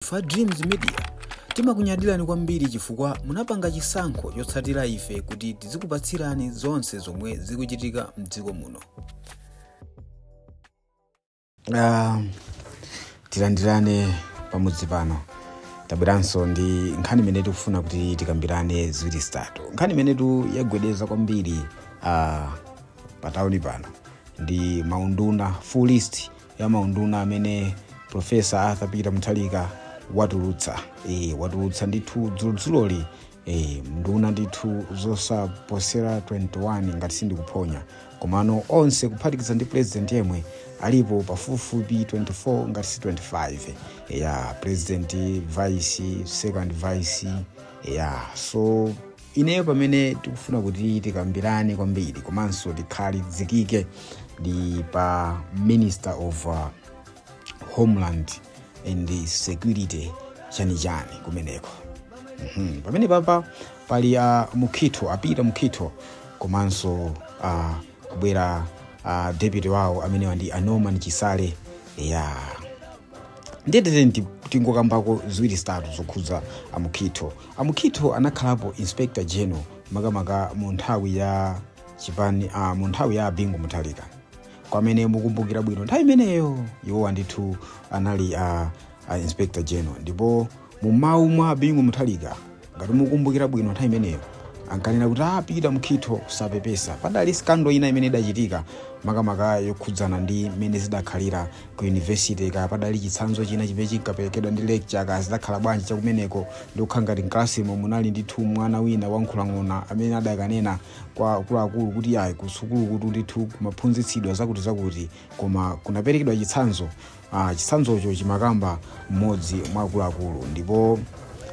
Ife a Dreams Media timakunyadilani kwambiri chifukwa munapanga chisankho chotsatira ife kuti tizikupatsirani zonse zomwe zikuchitika mdziko muno. Ah, tilandirane pamudzi pano tabweranso ndi nkhani imene tikufuna kuti tikambirane ziwiri zitatu nkhani imenetu yagwedeza kwambiri ah, pa tauni pano ndi maunduna full list ya maunduna amene Professor Arthur Peter Mutharika watulutsa e, watulutsa ndithu dzulodzuloli e, nduna ndithu zosaposera 21 ngati sindikuphonya komano onse kuphatikiza ndi president yemwe alipo pafupifupi 24 ngati si 25 ya president vice second vice ya so ineyo pamene tikufuna kuti tikambirane kwambiri komanso tikhalizikike ndi pa minister of uh, homeland and security chanichani kumeneko mm-hmm. pamene papa pali a Mukhitho a Peter Mukhitho komanso uh, kubwera uh, deputy wawo amenewa ndi a Norman Chisale ya ndiyetete tingokambako ziwiri zitatu zokhudza a Mukhitho A Mukhitho anakhalapo Inspector General makamaka mu nthawi ya chipani a mu nthawi ya a Bingu Mutharika. Kwa amene mukumbukira bwino nthawi imeneyo iwowa ndithu anali a, a Inspector General ndipo mu mawu mwa a Bingu Mutharika ngati mukumbukira bwino nthawi imeneyo ankanena kuti a Peter Mukhitho sapepesa padali scandal ina imene idachitika makamaka yokhudzana ndi mmene zidakhalira ku university kaya padali chitsanzo china chimene chinkaperekedwa ndi lecturer kaya zidakhala bwanji chakumeneko ndikukhala ngati mkalasimo munali ndithu mwana wina wa Mukhitho amene adakanena kwa akuluakulu kuti ayi kusukulu kutu ndithu kumaphunzitsidwa zakuti zakuti koma kunaperekedwa chitsanzo ah, chitsanzocho chimakamba mmodzi mwa akuluakulu ndipo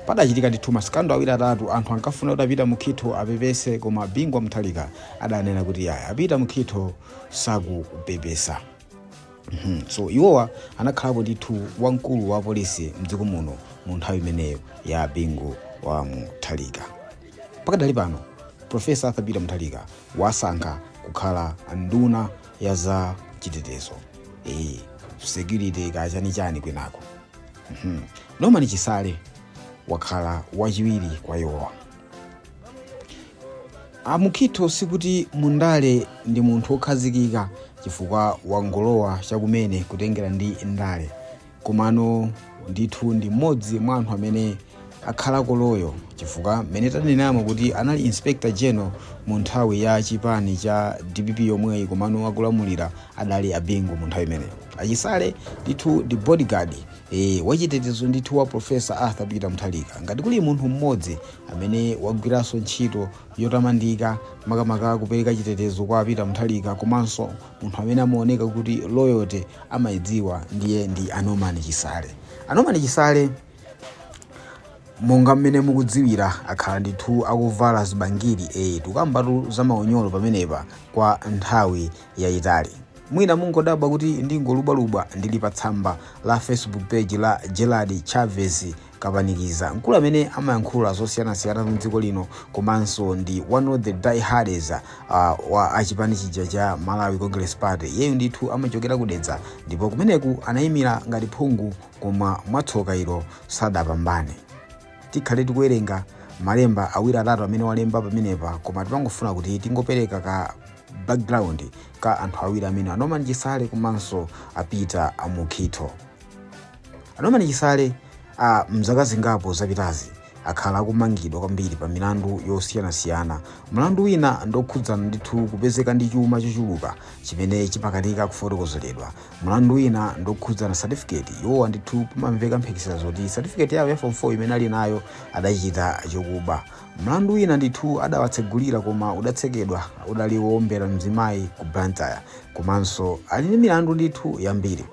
padachitika ndithu ma scandal awiri atatu anthu ankafuna kuti a Peter Mukhitho apepese koma Bingu wa Mutharika adanena kuti ayi a Peter Mukhitho sakupepesa Mhm. so iwowa anakhalapo ndithu wamkulu wa polisi mdziko muno mu nthawi imeneyo ya Bingu wa Mutharika pakadali pano Professor Arthur Peter Mutharika wawasankha kukhala nduna ya za chitetezo e, security kaya chanichani kwinako Mhm. Norman Chisale wakhala wachiwiri kwa iwowa a Mukhitho sikuti mundale ndi munthu wokhazikika chifukwa wangolowa chakumene kutengera ndi ndale komano ndithu ndi mmodzi mwa anthu amene akhalako loyal chifukwa mmene tanenamo kuti anali inspector general mu nthawi ya chipani cha dpp yomweyi komano akulamulira adali a Bingu mu nthawi imeneyo a Chisale ndithu ndi bodyguard wachitetezo ndithu wa Professor Arthur Peter Mutharika. Ngati kuli munthu mmodzi amene wagwiranso ntchito yotamandika makamaka kupereka chitetezo kwa Peter Mutharika komanso munthu amene amaoneka kuti loyalty amayidziwa ndiye ndi a Norman Chisale. A Norman Chisale monga mmene mukudziwira akhala ndithu akuvala zibangiri eyi tukambatu za maunyolo pamenepa kwa nthawi yayitali. Mwina mungodabwa kuti ndingolubwalubwa ndili pa tsamba la Facebook page la Gerald Chavez Kapanikiza, mkulu amene amayankhula zosiyanasiyana mu dziko lino komanso ndi one of the diehards wa chipani chija cha Malawi Congress Party. Iyeyu ndithu amachokera ku Dedza ndipo kumeneku anayimira ngati phungu koma mwatsoka ilo sadapambane. Tikhale tikuwerenga malemba awiri atatu amene walemba pamenepa koma timangofuna kuti tingopereka ka background ka anthu awiri amene a Norman Chisale komanso a Peter Mukhito. A Norman Chisale mzaka zingapo zapitazi akhala akumangidwa kwambiri pa milandu yosiyanasiyana. Mlandu wina ndokhudzana ndithu kupezeka ndi chuma chochuluka chimene chimakanika kufotokozeredwa. mlandu wina ndokhudzana certificate iwowa ndithu pamamveka mphekesera zoti certificate yawo ya form 4 imene ali nayo adachita chokuba mlandu wina ndithu adawatsegulira koma udatsekedwa udali woombera mzimayi ku Blantyre komanso ali ndi milandu ndithu yambiri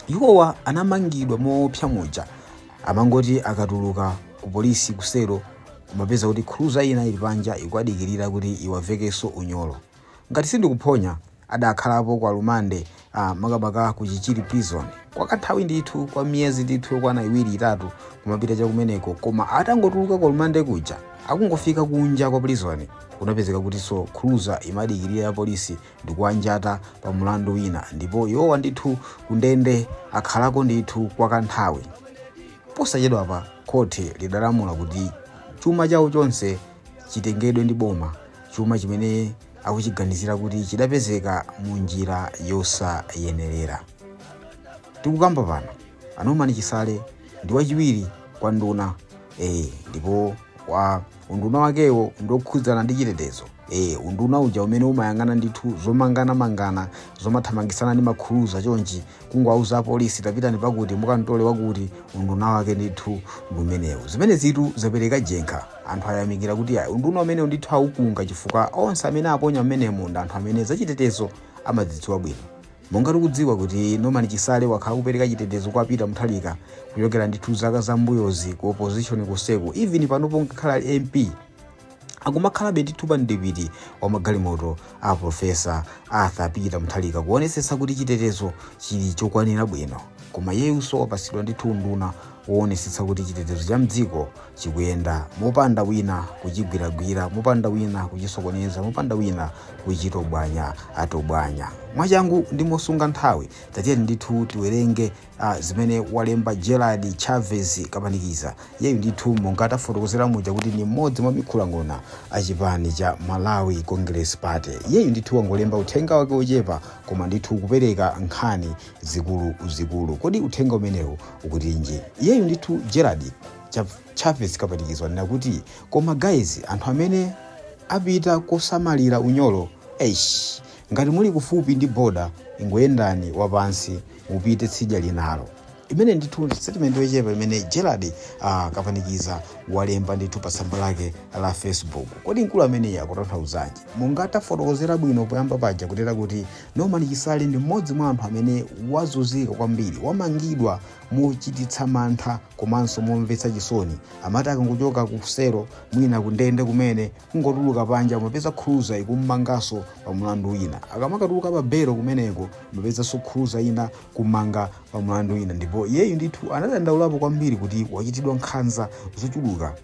iwowa anamangidwa moopsa muja amangoti akatuluka ku polisi kusero kumapeza kuti cruiser ina ili panja ikuwadikirira kuti iwavekenso unyolo Ngati sindikuphonya, adakhalapo ku alimande, a makamaka ku Chichiri Prison, kwa kanthawi ndithu, kwa miyezi ndithu yokwana iwiri, itatu, kumapita cha kumeneko, koma atangotuluka ku alimande kuja, akungofika kunja kwa prison, kunapezeka kutinso cruiser imadikirira ya polisi ndikuwanjata pa mulandu wina, ndipo iwowa ndithu ku ndende akhalako ndithu kwa kanthawi. Posachedwapa, khoti lidalamula kuti chuma chawo chonse chitengedwe ndi boma. chuma chimene akuchiganizira kuti chidapezeka mu njira yosayenerera tikukamba pano a Norman Chisale ndi wachiwiri kwa nduna e, ndipo wa unduna wakewo ndokhudzana ndi chitetezo e, unduna uja umene umayang'ana ndithu zomanganamangana zomathamangisana ndi ma cruiser chonchi kungowauza apolisi tapitani pakuti mukantole wakuti unduna wake ndithu ndi umenewu zimenezitu zapereka jenkha anthu ayamikira kuti ayi unduna umenewu ndithu awukunga chifukwa onse amene aponya mmenemu ndi anthu amene zachitetezo amazidziwa bwino monga tikudziwa kuti Norman Chisale wakhala akupereka chitetezo kwa Peter Mutharika kuchokera ndithu zaka zambuyozi ku opposition kuseko even panopo ngakhale ali mp akumakhalabe ndithu pa mdipiti wa magalimoto a profesa arthur peter mutharika kuonetsetsa kuti chitetezo chili chokwanira bwino koma yeyunso wapatsidwa ndithu unduna woonetsetsa kuti chitetezo cha mdziko chikuyenda mopanda wina kuchigwiragwira mopanda wina kuchisokoneza mopanda wina kuchitobwanyatobwanya mwachangu ndi mosunga nthawi tatiyeni ndithu tiwerenge Ah, zimene walemba Gerald Chavez Kampanikiza yeyu ndithu monga tafotokozera muja kuti ni mmodzi mwa mikhulang'ona a chipani cha Malawi Congress Party. Yeyu ndithu wangolemba uthenga wake wochepa koma ndithu kupereka nkhani zikulu zikulu. Kodi uthenga umenewu ukutinji? Yeyu ndithu Gerald Cha- Chavez Kampanikiza wanena kuti koma guys anthu amene apita kosamalira unyolo eish ngati muli kufupi ndi boda ingoyendani wapansi mupite tsidya linalo imene ndithu ndi statement yochepa imene gerald uh, kampanikiza walemba ndithu pa tsamba lake la facebook kodi mkulu ameneyi akutanthauzanji monga tafotokozera bwino poyamba paja kutera kuti norman chisale ndi mmodzi mwa anthu amene wazunzika kwambiri wamangidwa mochititsa mantha komanso momvetsa chisoni amati akangochoka ku selo mwina kundende kumene Kungotuluka panja umapeza cruiser ikummanganso pa mulandu wina. Akamatuluka pa belo kumeneko umapezanso cruiser ina kummanga pa mulandu wina ndipo iyeyu ndithu anadandaulapo kwambiri kuti wachitidwa nkhanza zochuluka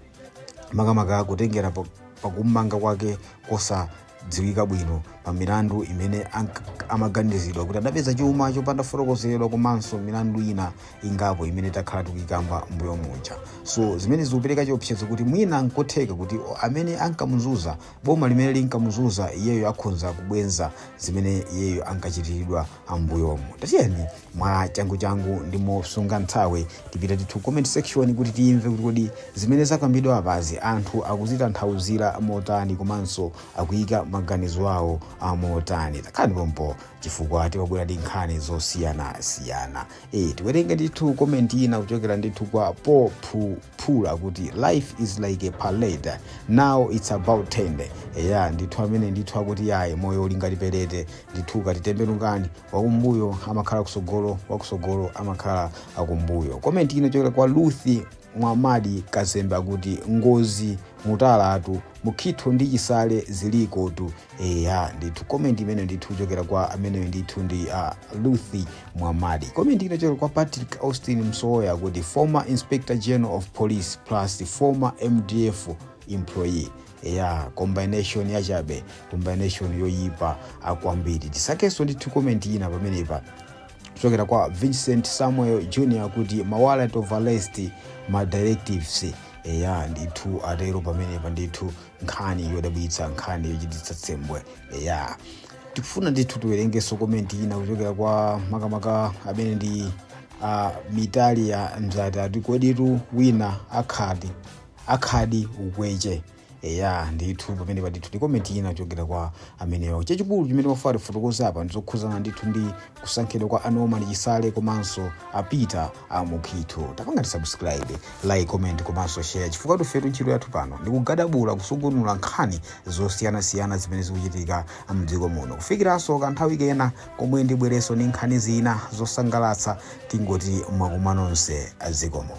makamaka kutengera pa, pa kummanga kwake kosadziwika bwino pa milandu imene ank- amaganiziridwa kuti adapeza chuma chopanda kufotokozeredwa komanso milandu ina ingapo imene takhala tikuyikamba mbuyo muja so zimene zikupereka chiopsezo kuti mwina nkotheka kuti amene ankamuzunza boma limene linkamuzunza iyeyo akhonza kubwenza zimene iyeyo ankachitiridwa ambuyomu tatiyeni mwa changuchangu ndi mosunga nthawi tipite ndithu comment section kuti timve kuti kodi zimene zakambidwa apazi anthu akuzitanthauzira motani komanso akuyika maganizo awo amotani takhalani pompo chifukwa tabwera ndi nkhani zosiyanasiyana e, tiwerenge ndithu komenti ina kuchokera ndithu kwa po phula kuti life is like a parade now its about turn eya ndithu amene ndithu akuti yayi moyo uli ngati pelete ndithu ukati tembenukani wakumbuyo amakhala akusogolo wakusogolo amakhala akumbuyo komenti ina kuchokera kwa ruth Mwamadi kazembe akuti ngozi muthalika tu mukhito ndi chisale zilikotu eya ndithu comment imene ndithu kuchokera kwa ameneyo ndithu ndi uh, ruth mwamadi comment ina kuchokera kwa patrick austin msowoya akuti former inspector general of police plus former mdf employee ya combination yachabe combination yoyipa kwambiri tisakenso ndithu comment ina pamenepa kuchokera kwa vincent samuel jr kuti ma warrant of arrest ma directives eya ndithu atero pamenepa ndithu nkhani yodabwitsa nkhani yochititsa tsembwe eya tikufuna ndithu tiwerengenso komenti ina kuchokera kwa makamaka amene ndi uh, mitalia mzati ati koditu wina akhadi akhadi ukweche eya ndithu pamenepa ndithu ndi komenti ina kuchokera kwa amenewa chachikulu chimene timafuna tifotokoze apa ndizokhuzana ndithu ndi kusankhidwa kwa a norman chisale komanso a peter mukhitho tapangani subscribe like comment komanso share chifukwatu ifetu ntchito yathu pano ndikugadabula kusungunula nkhani zosiyanasiyana zimene zikuchitika mdziko muno kufikiranso kanthawi kena komwe ndibwerenso ndi nkhani zina zosangalatsa tingoti mwakoma nonse zikomo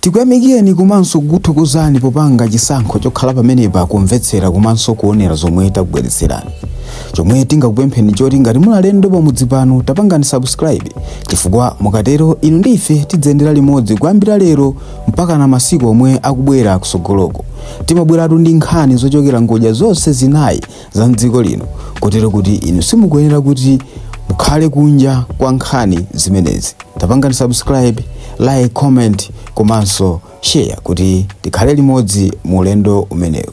tikuyamikeni komanso kukuthokozani popanga chisankho chokhala pamenepa kumvetsera komanso kuonera zomwe takubweretserani chomwe tingakupempheni choti ngati muli alendo pamudzi pano tapangani subscribe chifukwa mukatero inu ndi ife tidziyendera limodzi kuyambira lero mpaka na masiku omwe akubwera kusogoloko timabweratu ndi nkhani zochokera ngodya zonse zinayi za mdziko lino kotero kuti inu simukuyenera kuti mukhale kunja kwa nkhani zimenezi tapangani subscribe like comment komanso share kuti tikhale limodzi mu ulendo umenewu